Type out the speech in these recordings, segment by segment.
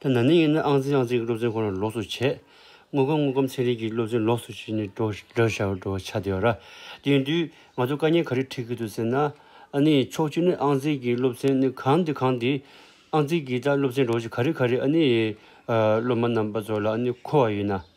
ཐ་ན་ནི་ཡིན་ན་ཨང་རྩིས་ཨང་རྩིས་ཀྱི་སློབ་ཚན་ཁོ་ན་ལོགས་སུ་བྱས། དངོས་ཁམས་དངོས་ཁམས་ཚན་རིག་གི་སློབ་ཚན་ལོགས་སུ་བྱས་ནས་སྒྲོག་སྒྲོག་བྱ་སྒྲོག་བྱ་བསྡད་ཡོད། དེ་ཡིན་དུས་ང་ཚོ་དཀའ་ཉེན་ག་རེ་འཕྲད་ཀྱི་འདུག་ཟེར་ན། ཨ་ནི་ཕྱོགས་བཅུ་ནས་ཨང་རྩིས་ཀྱི་སློབ་ཚན་ནི་གང་དེ་གང་དེ། ཨང་རྩིས་ཀྱི་ད་སློབ་ཚན་སྒྲོག་བྱེད་ག་རེ་ག་རེ་ཨ་ནི། སློབ་མ་རྣམ་པ་ཚོ་ལ་ཨ་ནི་མཁོ་བ་ཡིན་ན།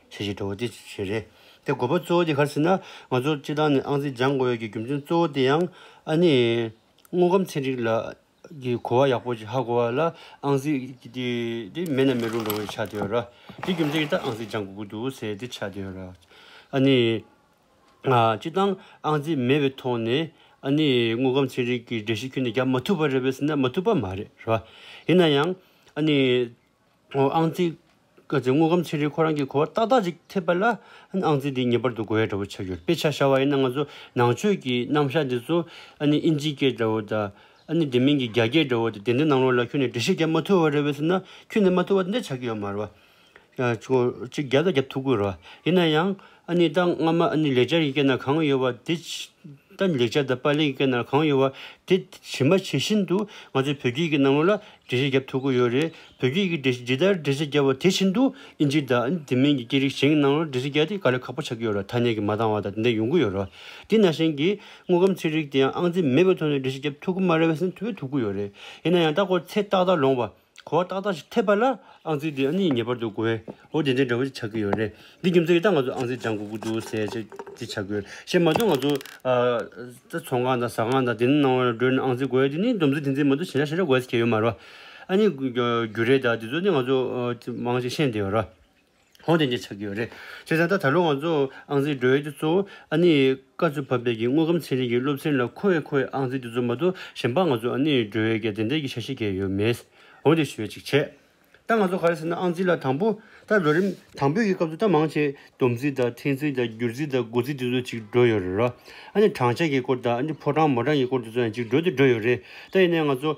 ཆེ་ཞིང་དྲོ་བ་ཅི་ཞིག་རེད། དེ་དགོས་པ་གཙོ་བོ་དེ་གར་ཟིན་ན་ང་ཚོར་སྤྱི་བཏང་ནས་ཨང་རྩིས་སྦྱང་དགོས་ཡོད་ཀྱི་རྒྱུ་མཚན་གཙོ་བོ་དེ་ཡང་ཨ་ནི། དངོས་ཁམས་ཚན་རིག་ལ་གི་གོ་བ་ཡག་པོ་ཞིག་ཧ་གོ་བ་ལ་ཨང་རྩིས་དེ་མེད་ན་མི་རུང་འགྲོ་བའི་ཆ་དེ་ཡོད་ར། དེ་རྒྱུ་མཚན་གྱིས་ད་ཨང་རྩིས་སྦྱང་དགོས་ཀྱི་འདུག་ཟེར་དེ་ཆ་དེ་ཡོད་ར། ཨ་ནི། སྤྱི་བཏང་ཨང་རྩིས་མེད་པའི་ཐོག་ནས་ཨ་ནི་དངོས་ཁམས་ཚན་རིག་གི་འགྲེལ་བཤད་ཁྱོན་ནས་རྒྱག་མ་ཐུབ་པ་རེད་བས་ཟེར་ན་མ་ཐུབ་པ་མ་རེད་ར། ཡིན་ན་ཡང་ཨ་ནི། ཨང་རྩིས། བཀའ་བརྩི་དངོས་ཁམས་ཚན་རིག་ཁོ་རང་གིས་གོ་བ་ཏག་ཏག་ཅིག་ཐེབས་པ་ལ། ཨང་རྩིས་འདི་ངེས་པར་དུ་གོ་ཡ་འདྲ་བོ་ཆགས་ཡོད་དཔེ་ཆ་ཤར་བ་ཡིན་ན་ང་ཚོ་ནང་ཆོས་ཀྱི་རྣམ་གཞག་འདི་ཚོ། ཨ་ནི་ཨིན་ཇི་སྐད་འདྲ་བོ་དང། ཨ་ནི་དེ་མིན་གྱི་རྒྱ་སྐད་འདྲ་བོ་དེ་དེ་འདྲ་ནང་ལོགས་ལ་ཁྱོན་ནས་འབྲི་ཤེས་རྒྱ་མ་ཐུ་བ་རེད་བས་ཟེར་ན་ཁྱོན་ནས་མ་ཐུ་བ་འདི་འདྲ་ཆགས་ཀྱི་ཡོད་མ་རེད་བ། ཅིག་རྒྱབ་ད་རྒྱབ་ཐུག་དགོས་རེད་བ། ཡིན་ན་ཡང། ཨ་ནི་ད་སྔ་མ་ཨ་ནི་ལེགས་སྦྱར་གྱི་སྐད་ན་གང་ཡོད་བ་དེ། ད་ནི་ལེགས་སྦྱར་དང་པར་ལེན་གྱི་སྐད་ན་གང་ཡོད་བ་དེ། ཇི་མ་ཇི་བཞིན་དུ་ང་ཚོས་བོད་སྐད་ཀྱི་སྣང་ངོ་ལ་འགྲེལ་བཤད་བརྒྱབ་ཐུབ་གི་ཡོད་རེད། བོད་སྐད་ཀྱི་འགྲེལ་ཇི་ལྟར་འགྲེལ་བཤད་བརྒྱབ་བ་དེ་བཞིན་དུ་ཨིན་ཇི་དང་དེ་མིན་གྱི་སྐད་རིགས་གཞན་གྱི་སྣང་ངོ་ལ་འགྲེལ་བཤད་བརྒྱབ་སྟེ་ག་ལེར་ཁག་པོ་ཆགས་ཀྱི་ཡོད་རེད་ཐ་སྙད་ཀྱི་མ་འདང་བ་དང་དེ་འདྲ་ཡོང་གི་ཡོད་རེད། དེས་ན་གཞན་གྱིས་དངོས་ཁམས་ཚན་རིག་དེའང་ཨང་རྩིས་མེད་པའི་ཐོག་ནས་འགྲེལ་བཤད་བརྒྱབ་ཐུབ་གི་མ་རེད་བསམ་ཐུབ་ཀི་ཡོད་རེད། ཡིན་ན་ཡང་ད་སྐོར་ཚེ་ཏག་ཏག་ལོངས་བ། གོ་བ་ཏག་ཏག་ཞིག་ཐེབས་པ་ལ་ཨང་རྩིས་དེ་གཉིས་ངེས་པར་དུ་དགོས། འོ་དེ་འདྲའི་འདྲ་བོ་ཞིག་ཆགས་ཀྱི་ཡོད་རེད། འདི་རྒྱུ་མཚན་གྱིས་ད་ང་ཚོས་ཨང་རྩིས་སྦྱང་དགོས་ཀྱི་འདུག་ཟེར་ཆ་དེ་ཆགས་ཀྱི་ཡོད། བཤད་མ་ཐུབ་ང་ཚོ། ཚོང་ཁང་དང་ཟ་ཁང་དང་དེ་ནི་ནང་བའི་སྒྲོན་ཨང་རྩིས་དགོས་ཡ་དེ་ནི་སྡོམ་རྩིས་དེ་འཛིན་མ་ཐུབ་ཞེ་དྲག་ཞེ་དྲག་དགོས་ཟེར་གྱི་ཡོད་མ་རེད་པ། ཨ་ནི་རྒྱུ་རེད་ད་དེ་ཚོ་ནི་ང་ཚོ་མང་ཞིག་ཤེས་འདི་ཡོད་རེད། ཧོན་དེ་འདྲས་ཆགས་ཀྱི་ཡོད་རེད། བྱས་ཙང་ད་ད་ལོ་ང་ཚོ་ཨང་རྩིས་སྒྲོལ་ཡོད་དེ་གཙོ་བོ་ཨ་ནེ་ཡི་བཀའ་ཚུལ་ཕབ་སྟེགས་ཀྱི་དངོས་ཁམས་ཚན་རིག་གི་སློབ་ཚན་ལ་མཁོ་བས་ཁོ་ཡི་ཨང་རྩིས་དེ་ཚོ་མ་གཏོགས་གཞན་པ་ང་ཚོ་ཨ་ནེ་ཡི་སྒྲོལ་ཡོད་ཀྱི་དེ་འདྲས་ཀྱི་ཆ་ཤེས་མཁན་ཡོད་མེད། འོན་ཏེ་ཞུ་བའི་ཅིག་བྱས། ད་ང་ཚོ་ག་རེ་ཟེར་ན་ཨང་རྩིས་ལ་དང་པོ་ད་ལོ་རིམ་དང་པོའི་གི་སྐབས་སུ་ད་མང་ཆེ་བསྡོམས་རྩིས་དང་ཐེངས་རྩིས་དང་བསྒྱུར་རྩིས་དང་འགོ་རྩིས་དེ་ཚོ་ཅིག་སྒྲོལ་ཡོད་རེད་རོ། ཨ་ནེ་གྲངས་བཅད་ཀྱི་སྐོར་དང་ཨ་ནེ་ཕོ་གྲངས་མོ་གྲངས་ཀྱི་སྐོར་དེ་ཚོ་ཡང་ཅིག་སྒྲོལ་དེ་སྒྲོལ་ཡོད་རེད། ད་ཡིན་ནའི་ང་ཚོ།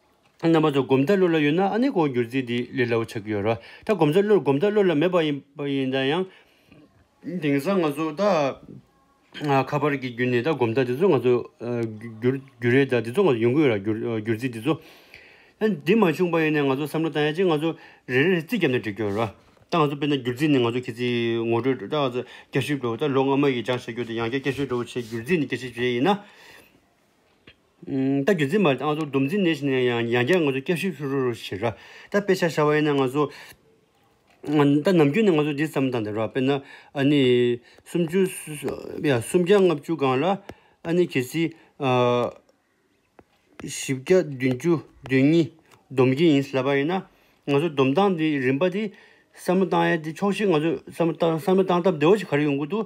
རྣམ་པ་ཚོ་སྒོམ་བཟླས་བློ་ལ་ཡོད་ན་ཨ་ནེ་ཀོ་འགྱུར་རྩིས་འདི་ལས་སླ་བོ་ཆགས་ཀྱི་ཡོད་རོ། ད་སྒོམ་བཟླས་བློ་སྒོམ་བཟླས་བློ་ལ་མེད་པ་ཡིན་ན་ཡང། དེང་སང་ང་ཚོ་ད། ཁ་པར་གྱི་བརྒྱུད་ནས་ད་སྒོམ་བཟླས་འདི་ཚོ་ང་ཚོ། འགྱུར་རེད་ད་འདི་ཚོ་ང་ཡོང་གི་ཡོད་ར་འགྱུར་རྩིས་འདི་ཚོ། འདི་མ་བྱུང་པ་ཡིན་ན་ང་ཚོ་བསམ་བློ་བཏང་ཡ་ཅིག་ང་ཚོ་རེ་རེ་རྩིས་བརྒྱབ་ན་འགྲིག་གི་ཡོད་རོ། ད་ང་ཚོ་དཔེར་ན་འགྱུར་རྩིས་ནི་ང་ཚོ་ཁྱེད་ཚོས་ངོ་སྤྲོད་སྒྲོག་སྐྱ་ཤོད་འགྲོ་ད་ལོ་སྔ་མ་ཡིས་སྦྱང་བྱ་རྒྱུ་དང་ཡང་བསྐྱར་སྐྱ་ཤོད་འགྲོ་བ་བྱས་འགྱུར་རྩིས་ནི་སྐྱ་ཤོད་བྱས་ཡིན་ན། ད་རྒྱུན་འཛིན་མ་རེད་ད་ང་ཚོ་སྡོམ་འཛིན་གནས་ཤིག་ནས་ཡང་ཡང་བསྐྱར་ང་ཚོ་སྐྱབས་ཞིབ་ཤུ་རུ་རུ་བྱེད་ད་དཔེ་ཆ་ཤར་བ་ཡིན་ན་ང་ཚོ་ད་ནམ་རྒྱུན་ནས་ང་ཚོ་འདི་ཙམ་དང་འདི་རོགས་དཔེར་ན་ཨ་ནི་སུམ་བཅུ་སུམ་བརྒྱ་ལྔ་བཅུ་སྒང་ལ་ཨ་ནི་གལ་སྲིད་བཞི་བརྒྱ་བདུན་བཅུ་བདུན་གཉིས་སྡོམ་གྱི་ཡིན་ཟེར་བ་ཡིན་ན་ང་ཚོ་སྡོམ་སྟངས་འདི་རིམ་པ་འདི་བསམ་བློ་བཏང་ཡ་འདི་ཆོག་ཤེས་ང་ཚོ་བསམ་བློ་བཏང་བསམ་བློ་བཏང་སྟབས་བདེ་བོ་ཞིག་ག་རེ་ཡོང་གི་འདུག་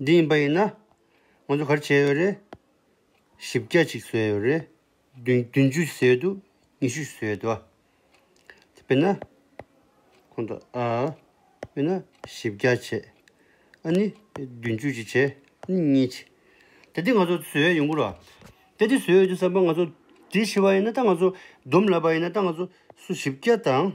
འདི་ཡིན་པ་ཡིན་ན། ང་ཚོ་གར་བྱས་ཡོད་རེད། བཞི་བརྒྱ་ཅིག་བཟོས་ཡོད་རེད། བདུན་ཅུ་ཟེར་ཡོད་འདུག་ཉི་ཤུ་ཟེར་ཡོད་འདུག་དཔེར་ན། ཁོང་ཚོ་དཔེར་ན་བཞི་བརྒྱ་བྱས། ཨ་ནི་བདུན་ཅུ་ཅིག་བྱས་གཉིས་བྱས། དེ་དེ་ང་ཚོ་བཟོས་ཡོད་ཡོང་གི་རོགས། དེ་དེ་བཟོས་ཡོད་ཅེས་བསམ་པ་ང་ཚོ་དེ་བཞི་བ་ཡིན་ན་ད་ང་ཚོ་བསྡོམས་ལབ་པ་ཡིན་ན་ད་ང་ཚོ་སུ་བཞི་བརྒྱ་དང།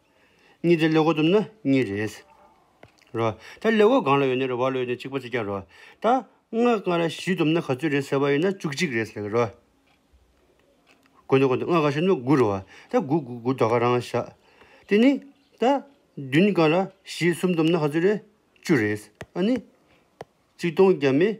གཉིས་ཏེ་ལེའུ་དུམ་ན་གཉིས་རེད། རོ། ད་ལེའུ་གང་ལ་ཡོད་ནི་རེ་བ་ལོས་ནི་གཅིག་པ་ཚིག་བརྒྱ་རོ། ད། སྔགས་སྔ་ར་བཞི་དུམ་ན་ག་ཚོད་རེད་ཟེར་བ་ཡིན་ན་བཅུ་གཅིག་རེད་ཟེར་གི་རོ། དགོས་འདོད་དགོས་འདོད་སྔགས་གང་ཞིག་ནི་དགུ་རུ་བ། ད་དགུ་དགུ་དགུ་དག་ག་རང་བཞག། དེ་ནི། ད། བདུན་གང་ར་བཞི་གསུམ་དུམ་ན་ག་ཚོད་རེད། བཅུ་རེད། ཨ་ནི། གཅིག་སྟོང་བརྒྱ་མེད།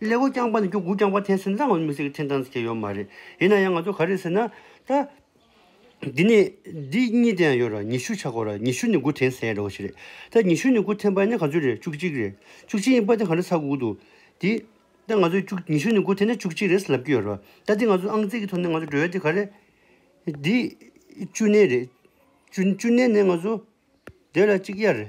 ལས་སྒོ་རྐྱང་པ་ནི་སྐྱོ་གུ་རྐྱང་པ་འཐེན་སེམས་ལྷག་མ་མི་སེར་གྱི་འཐེན་སྟངས་སུ་སྐྱེས་ཡོད་མ་རེད། ཡིན་ན་ཡང་ང་ཚོ་ག་རེ་ཟེར་ན། ད། འདི་ནས། འདི་གཉིས་དེ་ཡང་ཡོད་ར་ཉི་ཤུ་ཆགས་དགོས་ར་ཉི་ཤུ་ནི་དགུ་འཐེན་ཟེར་ཡ་འདྲ་བོ་ཞིག་རེད། ད་ཉི་ཤུ་ནི་དགུ་འཐེན་པ་ནི་ག་ཚོད་རེད་བཅུ་གཅིག་རེད། བཅུ་གཅིག་ཡིན་པ་དེ་ག་འདྲ་ཚ་གུ་གུ་འདུག་དེ། ད་ང་ཚོས་བཅུ་ཉི་ཤུ་ནི་དགུ་འཐེན་ན་བཅུ་གཅིག་རེད་ཟེར་ལབ་ཀྱི་ཡོད་ར་བ། ད་འདི་ང་ཚོ་ཨང་རྩིས་ཀྱི་ཐོག་ནས་ང་ཚོ་འགྲོ་ཡ་དེ་ག་རེ། འདི། བཅུ་གནས་རེད། བཅུ་བཅུ་གནས་ནས་ང་ཚོ། བསྡོད་ལ་གཅིག་གཡར།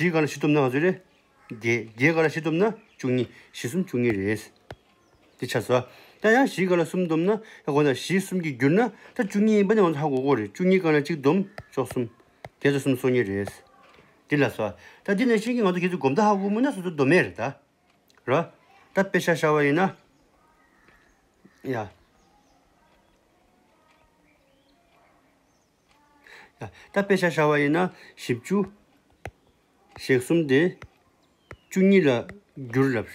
བཞི་ག་ལ་བཞི་ཐོབ་ན་ང་ཚོས་རེད། བརྒྱད། བརྒྱད་ག་ལ་བཞི་ཐོབ་ན་བཅུ་གཉིས། བཞི་གསུམ་བཅུ་གཉིས་རེད། དེ་ཆ་ཟ། ད་ཡང་བཞི་ག་ལ་གསུམ་འདོམས་ན་ཧ་གོ་ན་བཞི་གསུམ་གྱིས་བསྒྱུར་ན་ད་བཅུ་གཉིས་ཡིན་པ་ནི་ང་ཚོ་ཧ་གོ་གོ་རེད་བཅུ་གཉིས་ག་ལ་གཅིག་འདོམས་ཅོག་གསུམ། བརྒྱད་ཚོ་གསུམ་སོ་གཉིས་རེད། འདི་ལ་ཟ། ད་འདི་ནས་བཤད་ཀྱི་ང་ཚོ་བརྒྱད་ཚོ་སྒོམ་ད་ཧ་གོ་མུས་ན་སོ་སོ་འདོམས་མེད་རེད་ད། ར། ད་དཔེ་ཆ་ཤར་བ་ཡིན་ན། ཡ། ད་དཔེ་ཆ་བྱ་བ་ཡིན་ན་བཞི་བཅུ། ཞེ་གསུམ་དེ། བཅུ་གཉིས་ལ་བསྒྱུར་ལབ།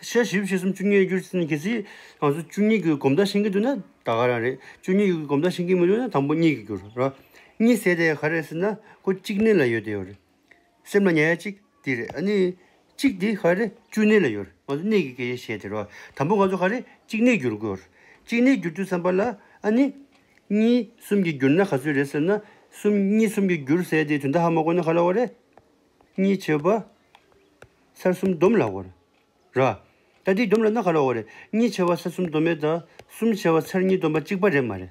ཞེ་བཞི་བཞི་གསུམ་བཅུ་གཉིས་ལ་བསྒྱུར་ཟེར་ན་གལ་སྲིད་ང་ཚོ་བཅུ་གཉིས་ཀྱི་གོམ་སྟབས་ཕྱིན་གྱི་འདུག་ན་ད་ག་རང་རེད། བཅུ་གཉིས་ཀྱི་གོམ་སྟབས་ཕྱིན་གྱི་མི་འདུག་ན་དང་པོ་གཉིས་ཀྱིས་བསྒྱུར་རོགས། གཉིས་ཟེར་དེ་ག་རེ་ཟེར་ན་ཁོ་གཅིག་གནས་ལ་ཡོད་དེ་ཡོད་རེད། སེམས་ལ་ཉེ་བ་གཅིག་འདི་རེད་ཨ་ནི། གཅིག་འདི་ཧ་རེ་བཅུ་གནས་ལ་ཡོད། ང་ཚོ་གནས་ཀྱི་གེགས་ཞེས་ཟེར་བ། དང་པོ་ང་ཚོ་ཧ་རེ་གཅིག་གནས་བསྒྱུར་དགོས། གཅིག་གནས་བསྒྱུར་དུས་བསམ་པ་ལ་ཨ་ནི། གཉིས་གསུམ་གྱིས་བསྒྱུར་ན་ག་ཚོད་རེད་ཟེར་ན། གསུམ་གཉིས་གསུམ་གྱིས་བསྒྱུར་ཟེར་ཏེ་དུས་འདའ་ཧ་མ་གོ་ན་ག་ལ་བ་རེད། གཉིས་བྱེད་པ། སར་གསུམ་བསྡོམས་ལ་བར། ར། ད་འདི་བསྡོམས་ལ་ན་ག་ལ་བ་རེད། གཉིས་བྱེད་པ་སར་གསུམ་བསྡོམས་མེད་ད། གསུམ་བྱེད་པ་སར་གཉིས་བསྡོམས་པ་གཅིག་པ་རེད་མ་རེད།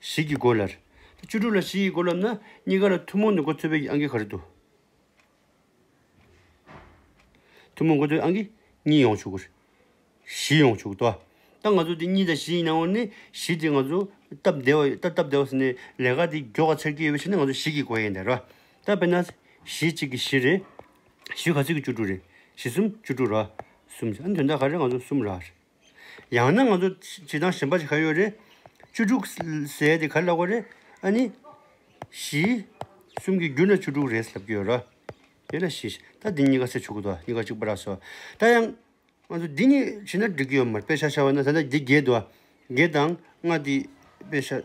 བཞི་གིས་བགོ། ལར་བཅུ་དྲུག་ལ་བཞི་ཡིས་བགོ་ལབ་ན་གཉིས་ཀ་ལ་ཐུན་མོང་དུ་འགོ་ཚུད་པའི་གྱི་ཨང་གི་ག་རེ་འདུག། ཐུན་མོང་འགོ་ཚུད་ཨང་གི་གཉིས་ཡོང་བྱུག། བཞི་ཡོང་བྱུག་ལྟོ། ད་ང་ཚོ་དེ་གཉིས་དང་བཞི་ཡིན་ནའང་ནི་བཞི་དེ་ང་ཚོ་སྟབས་བདེ་བ་ཡོད། ད་སྟབས་བདེ་བ་ཟེར་ནས་ལས་ཀ་དེ་མགྱོགས་ཀ་ཚར་གྱི་ཡོད་པའི་ཕྱིར་ན་ང་ཚོ་བཞི་གིས་བགོ་ཡས་འདའ་ར། ད་དཔེར་ན། བཞི་གཅིག་གིས་བཞི་རེད། བཞི་ག་ཚོད་ཀྱིས་བཅུ་དྲུག་རེད། བཞི་གསུམ་བཅུ་དྲུག་ར། གསུམ་ཅིག་ཨ་ནི་དོན་དག་ག་རེ་རེད་ང་ཚོ་གསུམ་ར། ཡང་ན་ང་ཚོ་བྱེད་སྟངས་གཞན་པ་ཞིག་ག་ཡོད་རེད། བཅུ་དྲུག་ཟས་དེ་ག་ལ་ལགས་པ་རེད་ཨ་ནི། བཞི། གསུམ་གྱི་རྒྱུ་ན་བཅུ་དྲུག་རེད་ཟེར་གྱི་ཡོད་ར། དེ་ལ་བཞི། ད་འདི་གཉིས་ཀ་ཟས་ཆོག་གི་འདུག་གཉིས་ཀ་གཅིག་པ་ར་སོ། ད་ཡང། ང་ཚོ་འདི་གཉིས་བྱེད་ན་འགྲིག་གི་ཡོད་མ་རེད་དཔེ་ཆ་བྱ་བ་ན་ད་ལྟ་འདི་བརྒྱད་འདུག་བརྒྱད་དང་ལྔ་འདི་དཔེ་ཆ།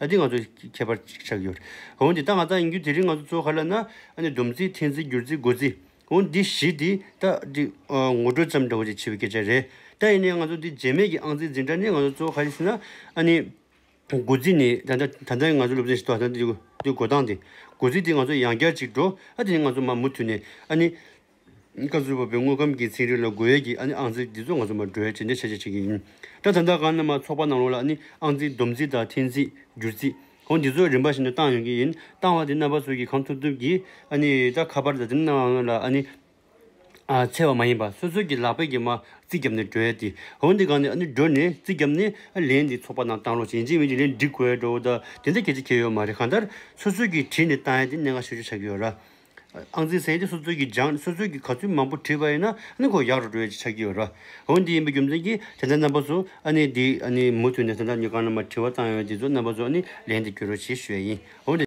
ད་འདི་ང་ཚོ་ཁྱད་པར་ཅིག་ཆགས་ཀྱི་ཡོད། འོན་ཏེ་ད་ང་ལྟ་ཡིན་རྒྱུ་དེ་རིང་ང་ཚོ་གཙོ་བོ་ག་ལ་ན་ཨ་ནི་སྡོམ་རྩིས་ཐེངས་རྩིས་བསྒྱུར་རྩིས་སྒོ་རྩིས། འོན་འདི་བཞི་དེ་ད་འདི་ངོ་སྤྲོད་ཙམ་འདྲ་བོ་ཅིག་བྱེད་པའི་སྐད་ཆ་རེད། ད་ཡིན་ནའི་ང་ཚོ་འདི་རྗེས་མེད་ཀྱི་ཨང་རྩིས་འཛིན་གྲྭ་ནི་ང་ཚོ་གཙོ་བོ་ག་རེ་ཟེར་ན་ཨ་ནི་སྒོ་རྩིས་ནི་ད་ལྟ་ད་ལྟ་ང་ཚོ་སློབ་ཚན་ཞིག་ཏུ་ད་ལྟ་འདི་སྒོ་སྟངས་འདི་སྒོ་རྩིས་དེ་ང་ཚོ་ཡང་བསྐྱར་ཅིག་འགྲོ་ཨ་དེ་ནི་ང་ཚོ་མ་མུ་མཐུད་ནས་ཨ་ནི་བཀའ་བརྒྱུད་པ་པོའི་དངོས་ཁམས་ཀྱི་ཚིག་འབྲུ་ལ་རྒོལ་ཡས་ཀྱིས་ཨ་ནི་ཨང་རྩིས་འདི་ཚོ་ང་ཚོ་མ་གྲོས་ཅི་འདྲའི་ཆ་ཆེ་ཆེ་གི་ཡིན། སྐྲ་ཐང་དག་གང་རྣམས་མ་ཚོགས་པ་ནང་ལོགས་ལ་ཨ་ནི་ཨང་རྩིས་བསྡོམས་རྩིས་དང་འཐེན་རྩིས་སྒྱུར་རྩིས་གོང་འདི་ཚོ་རིམ་པ་བཞིན་དུ་བཏང་ཡོང་གི་ཡིན་བཏང་བ་དེ་རྣམ་པ་ཚོས་ཀྱིས་གང་ཐུབ་ཐུབ་ཀྱིས་ཨ་ནི་སྐྲ་ཁ་པར་དང་དེ་རྣམས་ལོགས་ལ་ཨ་ནི་འཚེ་བ་མ་ཡིན་པ་སོ་སོ་ཀྱིས་ལག་པས་ཀྱིས་མ་རྩིས་བརྒྱབ་ནས་གྲོས་ཏེ་གོང་འདི་གང་ནས་ཨ་ནི་འགྲོ་ནས་རྩིས་བརྒྱབ་ནས་ཨ་ལན་འདི་ཚོགས་པ་ནང་བཏང་ལོགས་ཅིག་ཡིན་ཅིག་མིན་ཅིག་ལན་འབྲི་དགོས་འགྲོ་འོ་ད་དེ་འདྲ་གལ་ཆེ་ཁྱེད་ཡོད་མ་རེད་གང་ལྟར་སོ་སོ་ཀྱིས་བྲིས་ནས་བཏང་ཡས་དེ་གནད་འགག་ཤོད་ཆོད་ཆགས་ཀྱི་ཡོད་ར། ཨང་རྩིས་ཟན་དེ་སོ་སོའི་གིས་སྦྱངས་ནས་སོ་སོའི་གིས་ག་ཚོད་མང་པོ་བྲིས་པ་ཡིན་ན་ཨ་ནི་ཁོ་ཡག་རུ་འགྲོ་ཡ་ཅིག་ཆགས་ཀྱི་ཡོད་ར། འོན་དེ་ཡིན་པའི་རྒྱུ་མཚན་གྱིས་དེ་ལྟར་རྣམ་པ་ཚོ་ཨ་ནི་འདི་ཨ་ནི་མུ་མཐུད་ནས་ད་ལྟ་ནི་གང་ན་མ་བྲིས་བ་བཏང་ཡོད་དེ་ཚོ་རྣམ་པ་ཚོ་ཨ་ནི་ལན་དེ་བསྐྱོན་རོགས་ཞེས་ཞུ་ཡ་ཡིན། འོན་ཏེ།